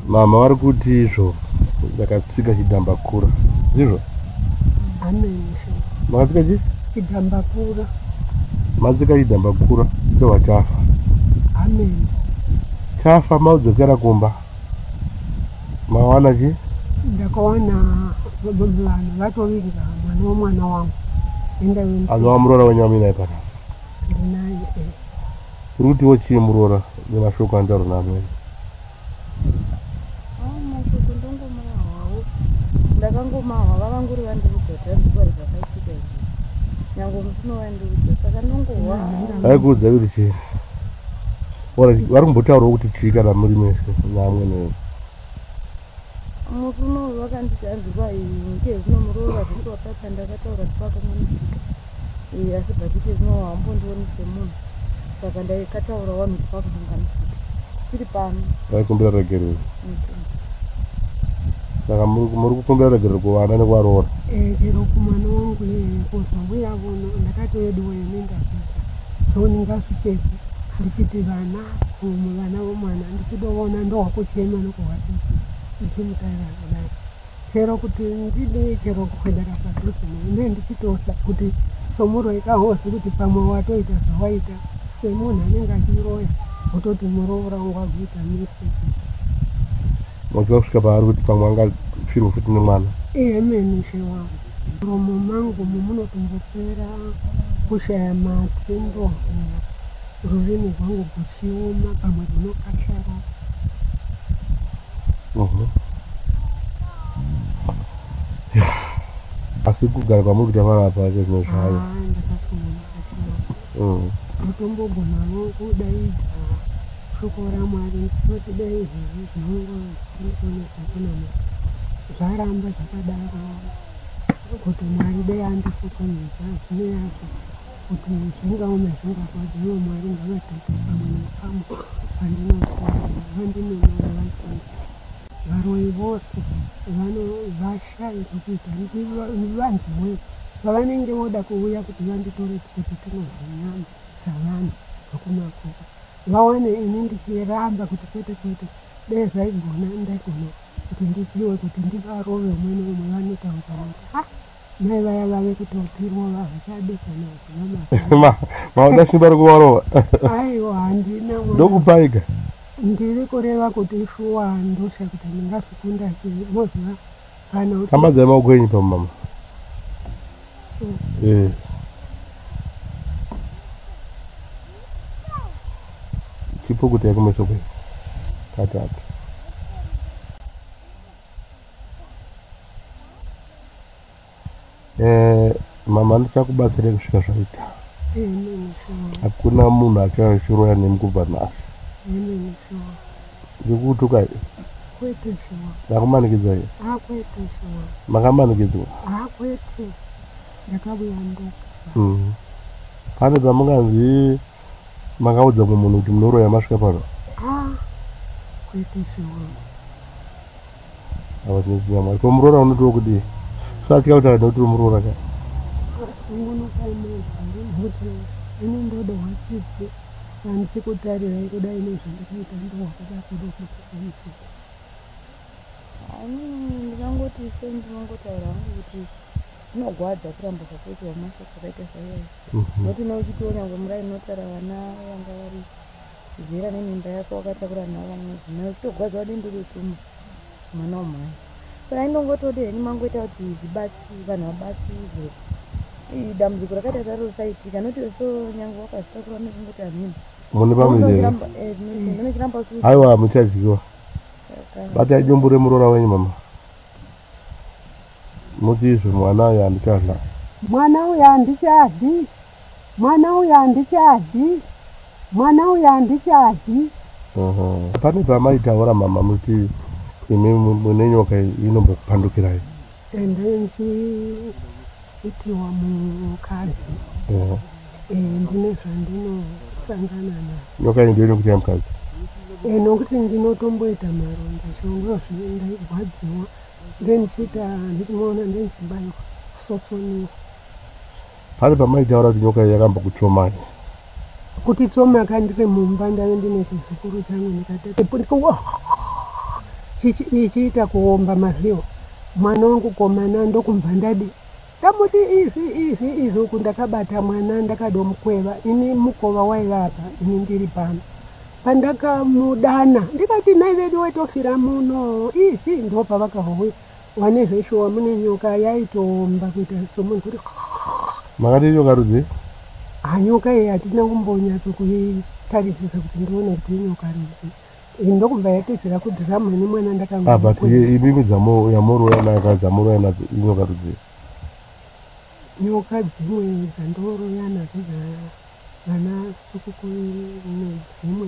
mama vari kuti izvo ndakatsika chidhambakura ndizvo makatsika chi chidhambakura matsika chidhambakura ndohwa chafa chafa maudzokera kumba mawana chi ndakawana vanhu vatovinga mwana wemwana wangu endaanova muroora wenyu amuinaye panapa ndinaye eh. kuri kutiwo chii muroora nemashoko andauro naamwene mashoko ndongomahwawo ndakangomahwa vavanguri vandiudza tazikuva zvakaitika izvi nyange mutino wandiudza saka ndongohwa aikuudza kuti chii vari kumbotaurawo kuti chii kana muri mese naamwene wenu murume uyu wakanditi anzi kwai nke zvinomurova zvese wapapa ndakataura zvipakamonisika eh, asi bhatike zvino wambondioni semunhu saka ndaikataura wanhu zvipakukanganisika tiri pano vaikumbira regerero saka muri kukumbira regerero kuvana nekuvaroora eh, chero kumwana wangu iyeye kuzangu yavono ndakatoyediwa ine ndapedza so ndingasvikepi ndichiti vana umu vana vomwana ndikutoona ndowakuchema nokuhwasisi ndichimutaira kudai chero kuti ndidi chero kuendera padhuze ne ndichitotya kuti somuroyi kahozi kuti pamwe watoita zvawaita semunhu anenge achiroya wototi muroora wangu wakuita mistake waziva kusvika paari kuti pamwe angafirwa futi nemwana iye meni she wangu muromo mangu mumunotombopera kushaya matsi ndohura Rurimi rwangu rwuchioma pamwe rwunokashara. Mhm. Asi kugara kwamuri kuita vana apa ake zvimwe zvayo. Ah, mm. Mutombogona wo kudaidza shoko raMwari musati dai izvozvi zvinongo zvinokonesa kunama zvaramba zvakadaro kuti Mwari dai andisokonesa zvine yazvo. kuti zvingaoma zvingarwadza ivo mwari ngavataite pamwe nepamwe pandinofunga vandinonora vaii varoyi vose vanovashaya zvekuita vanzi we pavanenge voda kuuya kuti vanditore kuti tinodya nyama dzavanhu dzokumakuva vawane ini ndichiramba kuti kwete kwete dee zvaigona ndaigona kuti ndipiwe kuti ndivarove umwe neumwe vanotaura kuti ha mai vaya vave kutopirwa vavasade kana zvinamama mauda simba rekuvarova aiwa handina ndokupaika ndiri kureva kuti shuwa ndosha kuti ndingazvikunda se moziva kana amadzai maoko enyu pamama eh. chipo kuti yakumeso kwenyu katatu eh, mama ndichakubatsira kusvika zvaita hakuna munhu achachiroya nemi kubva nhasi ndikukutukai ndakumanikidza i makamanikidzwa mm. pane pamunganzi makaudza mumwe munhu kuti munoroya masvika pano ah, ava tinoziva mwari ko muroora unotiwo kuti satya kuti aida kuti muroora ka inendoda watsitsi andisi kutarira ikuda ine zvandakaita ndowakuda kuda kuiita ani ndikangoti se ndinongotaura hangu kuti zvinogwadza kuramba zvakaitwa mashoko akaita saiyayi mhm. noti neuchitiwo nyange murai notara vana vanga vari Zera nemimba yako wakatakura navo vamwe madzimai uchitogwaza wadini ndiri utuma mwana wamhai saka indongotode heni mangoita kuti zvibasi vanhu vabatsirwe dambudziko rakaita saro risaitika noti so nyange wakazvitakura nekungoti hamhini mune vamwe vanochiramba eh, aiwa muchaziva batai dumbu remuroora wenyu mama muti izvo mwana uyo handichadla mwana uyo handichadli Mwana uyu handichadi. Mwana uyu handichadi. Pane pamaitaura mama muti imi mune nyoka inombokupandukirai. And then she itiwa mukadzi. Eh, ndine zvandinosangana na. Nyoka iyi ndiyo inokuita mukadzi. Eh, nokuti ndinotomboita maronda chongo zvindaigwadziwa then chita ndikumaona ndinchibaiwa sosoniwa Pane pamaitaura kuti nyoka iyi yakamba kutsomai. Kuti tsoma kandiri mumba ndave ndine chizukuru changu ndikatatipuwa chichiita kuomba mazviwo mwana wangu komana ndokumva ndadi tamuti izvi izvi izvi uku ndakabata mwana ndakadomukweva ini mukova waiva apa ini ndiri pano pandakamudana ndikati nai vedu wetofira muno izvi ndopavakahouya Wane zveshuwa mune nyoka yaitoomba kuita somunhu kuti makati nyoka rudzi hanyoka ah, iyi hatina kumbonyatso kuitarisisa kuti ndione kuti inyoka rudzi ndokubva yatizira kudhiramu ine mwana ndakanga ah, but ibimi yamoroya naka dzamoroya nadzo inyoka rudzi nyoka dzimwe dzandoroya nadzo vana sukukuru nedzimwe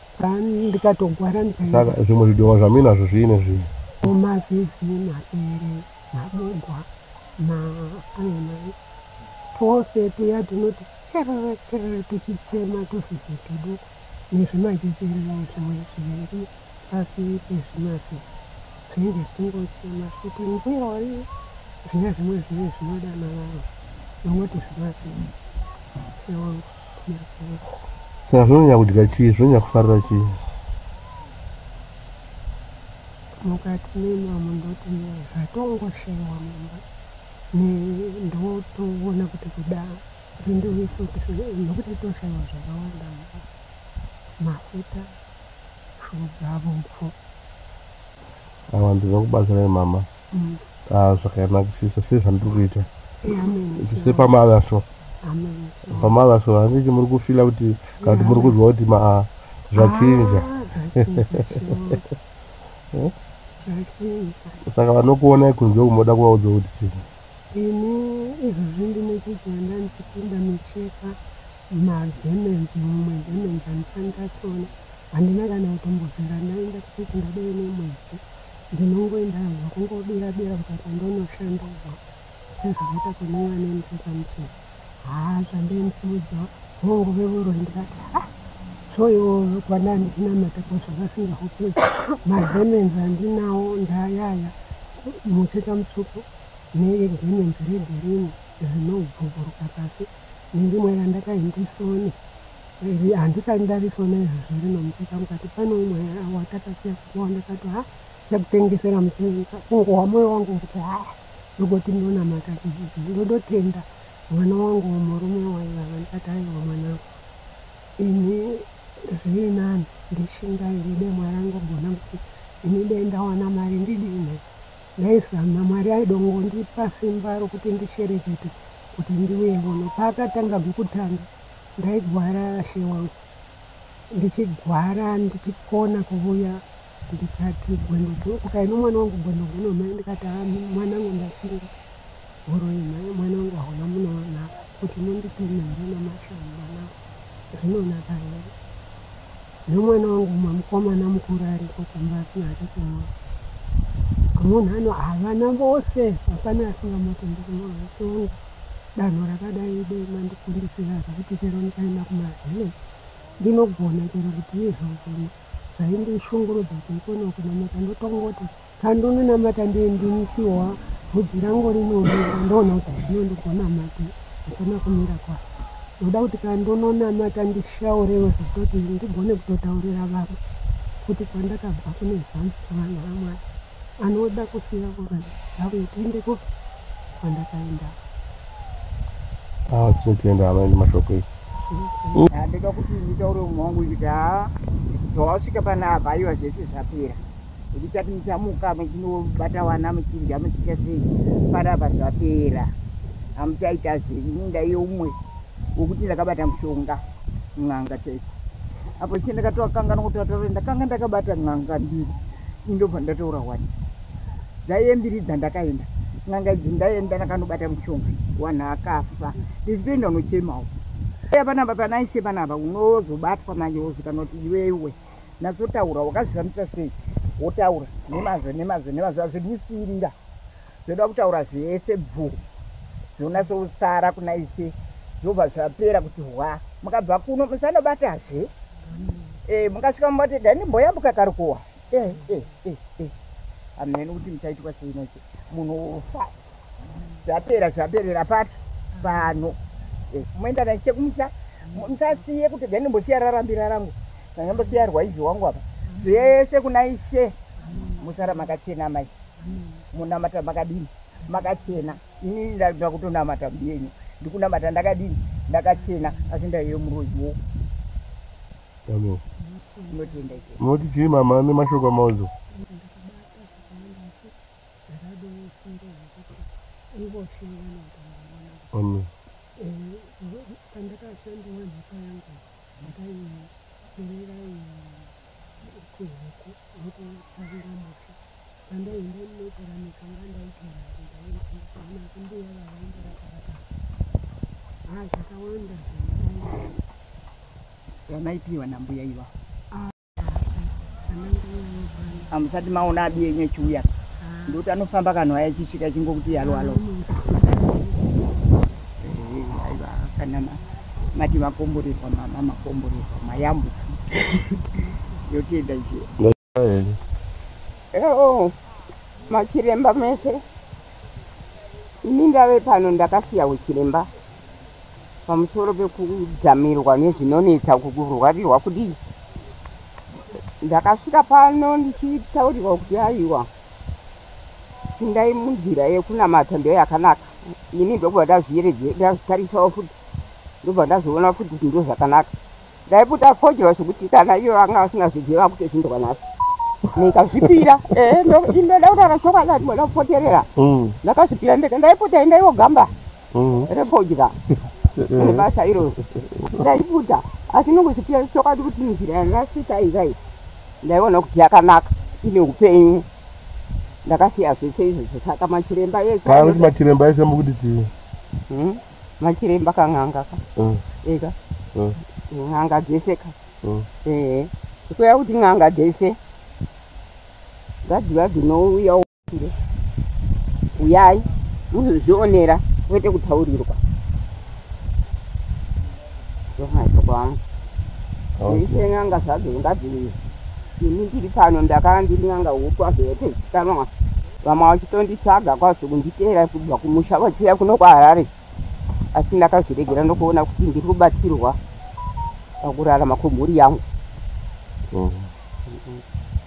ndikatogwara saka zvimwe zvidoma zvaminazvo zviine zvii mazizi mapere mabugwa maanamai twose tuya tunoti kerere kerere tuchichema tuzvizvi tudu nezvimajejerero zvimwe zviviri pasi pezvimazizi zvinenge zvichingochema zviti mbuya wari zviya zvimwe zvive zvinoda navanhu vanoti zvimazizi sewangu saka zvinonyanya kudya chii zvinonyanya kufarira chii mukati meni vamwe ndoti zvatongoshewa mumba ndotoona kuti kuda rindiwisoti nokuti toshewa zvakawanda mumba mafuta shuga vomfo awa ndinokubatsirai mama mm. ah, zvakanakisisa sezvandiri kuita se pamava so pamava so handichi muri kufila kuti kana kuti muri kuzwa kuti maa zvachinja saka vanokuonai kunze kumoda kuvaudza kuti chii ini izvozvi ndine chiganda ndichipinda micheka mademenzi mumwe demenzi andisandasona handina kana kutombozera ndaenda kuchechi ndadai nemwedzi Ndinongoenda hangu kungobira bira mukati ndonoshandurwa sezvakaita kune vane musekamsei haa zvandaimsiudza hongu vevoro ndikati ha ah, soivo kwana ndichinamata kozvakasinga hopezi mademenzi andinawo ndayaya mucheka mutsvuku nedemenzi regirini zvinobvuburuka pasi nerimwe randakaindisoni Iri handisati ndarisona izvozvo rino mucheka mukati pane umwe watakasiya kuwa ndakati ha chakutengesera mucheka kungohwa moyo wangu kuti ha ndokoti ndonamata chizvizvo ndodotenda mwana wangu murume waivava ndikati aiwa mwanangu ini zviri nani ndishingaire demwa rangu gona kuti ini dai ndawana mari ndidini ndaizama mwari aidongondipa simba rokuti ndisherekete kuti ndiuye kuno paakatanga kukutanga ndaigwara she wangu ndichigwara ndichikona kuvuya ndikati gwendogo ukaino mwana wangu gwendogo nomai ndikati ha mwana wangu ndasinga huroi mai mwana wangu hauna munoona kuti munditeme here namashau mwana zvinonaka here nomwana wangu mumwe mukomana mukuru ariko kumba asina hake kumwa munhu ano havana vose hapana asingamati ndikumaasi wangu danho rakadai ide mandikumbisira zvekuti chero ndikaenda kumavillage ndinogona chero kuti izvozvo zvaindishungurudza kuti ikone kunamata ndotongoti kandononamata ndiye ndinishiwa bvudzi rangu rinooneka ndoona kuti hazvino ndigonamate hakuna kumira kwaso ndoda kuti kandononamata ndishaurewe zvekutoti ndigone kutotaurira vamwe kuti kwandakabva kune zamu kuvana vamwari anoda kusiya kuvanhu ndauye tiendeko kwandakaenda ah, tinotoenda hama ende mashoko ii handida ah, kuti nditaure umwe wangu kuti haa zvawasvika pana apa aiwa zvese zvapera ndichati muchamuka muchinobata wana muchidya muchiita sei panapa zvapera hamuchaita zvenyu ndaiye umwe wokuti ndakabata mushonga n'anga chaiko apo ichi ndakatovakanga nokutataura ndakanga ndakabata n'anga mbiri indobva ndataura wani dzaiye mbiri dzandakaenda n'anga idzi ndaenda ndakanobata mushonga wanhu akafa ndichitoenda unochemawo iya panapa panaishe panapa unozobatwa manje wozikana kuti iwewe nazotaura wakazvizamisa sei wotaura nemazvo nemazvo nemazvo azvikusiirira zvoda kutaura zvese bvu zvonasousara kuna ise zvobva zvapera kuti hwa mukabva kuno musanobatazve e, mukasvika mubati dani mboyambuka karukuwa e, eh, e, eh, e, e. hamheni kuti muchaitwa sei nese munhu ufa zvapera zvaperera pati pano e, moenda naise kumusha musasiye kuti dani mbosiya rarambira rangu ndanga mbosiya rwaizi wangu apa zvese kuna ise musara makachena mai munamata makadini makachena ini ndakuda kutonamata mbiyenyu ndikunamata ndakadini ndakachena asi ndaiyo muroyi wo unotenda icho unoti chii mama ane mashoko amaodzo amen pandakashandira mhaka yangu ndakaiperera kuhuku nekufarira muti pandaenda ndinogara nekanga ndaigara ndaendana kumbuya vavaenda rakaraka ha zvakawanda zvamaipiwa nambuya iva hamusati maona abi yenyu echiuya ndoti anofamba kanhu aya chisvika chingokuti halo halo aiva kana mati makomborerwa mama makomborerwa mayambuka yotienda njira oo machiremba mese ini ndave pano ndakasiya uchiremba pamusoro pekudzamirwa nezvinonetsa kukurwarirwa kudii ndakasvika pano ndichitaurirwa kuti aiwa pindai munzira yekunamata ndo yakanaka ini ndobva ndazvitarisawo futi ndobva ndazoona futi kuti ndo zvakanaka ndaiputa fojewa zvekuti kana iyo anga asingazviziva kutozvindwa naso ndikazvipira eh, ndoda kutaura chokwadi kuti mwana kupoterera mm. ndakazvipira ndikaenda ipotai ndaiyogamba mm. repodya nebasa iroro ndaibuda asi nokuzipiya chokwadi kuti nzira yandasvika izai ndaiona kuti yakanaka ine upenyu ndakasiya zvese izvozvo saka machiremba esakuti machiremba ese mukuti chii hmm? machiremba kan'anga ka hmm. eka hmm. n'anga dzese ka ehe kuya kuti n'anga dzese ngadziva dzinouyawo uyai muzozvionera kwete kutaurirwa ndomaitokwanga isen'anga zvadzo ngadzii ini ndiri pano ndakanga ndiri n'anga huku azoyete zvikanwa vamwe vachitonditsvaga kwazvo kunditeera kubva kumusha vachiuya kuno kwaharare asi ndakazviregera ndokuona kuti ndiri kubatsirwa pakurarama kwemhuri yangu mm.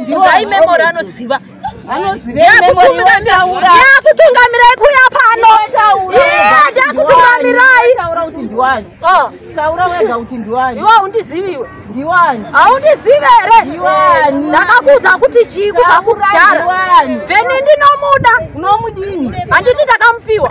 Ndizai memory anoziva. Ndakutungamirai kuya pano. Yeah, ndakutungamirai. Taura kuti ndiwani. Oh, taura wega kuti ndiwani. Iwe undizivi iwe. Ndiwani. Haundizive here? Ndiwani. Ndakakuudza kuti chii kubva kudhara. Ndiwani. Beni ndinomuda. Unomudini? Handiti ndakamupiwa.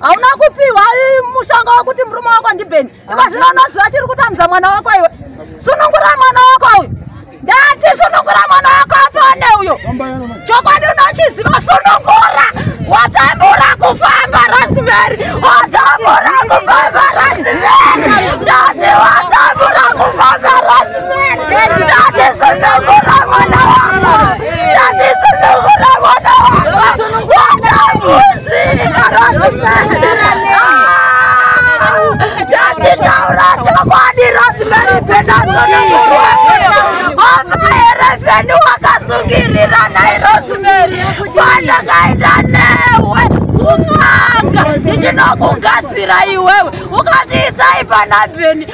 hauna kupiwa mushonga wekuti murume wako ndibheni iko zvino unoziva chiri kutambudza mwana wako iwe sunungura mwana wako uyu ndati sunungura mwana wako apone uyo chokwadi unochiziva sunungura watambura kufamba rasimeri watambura kufamba rasimeri ndati watambura kufamba rasimeri ndati sunungura mwana wako ndati sunungura mwana wako watambura Ndatitaura chokwadi Rosemary Peterson Vavayerevheni wakasungirira nhai Rosemary pandakaenda newe kun'anga ndichinokugadzira iwewe ukatiisai pana Bheni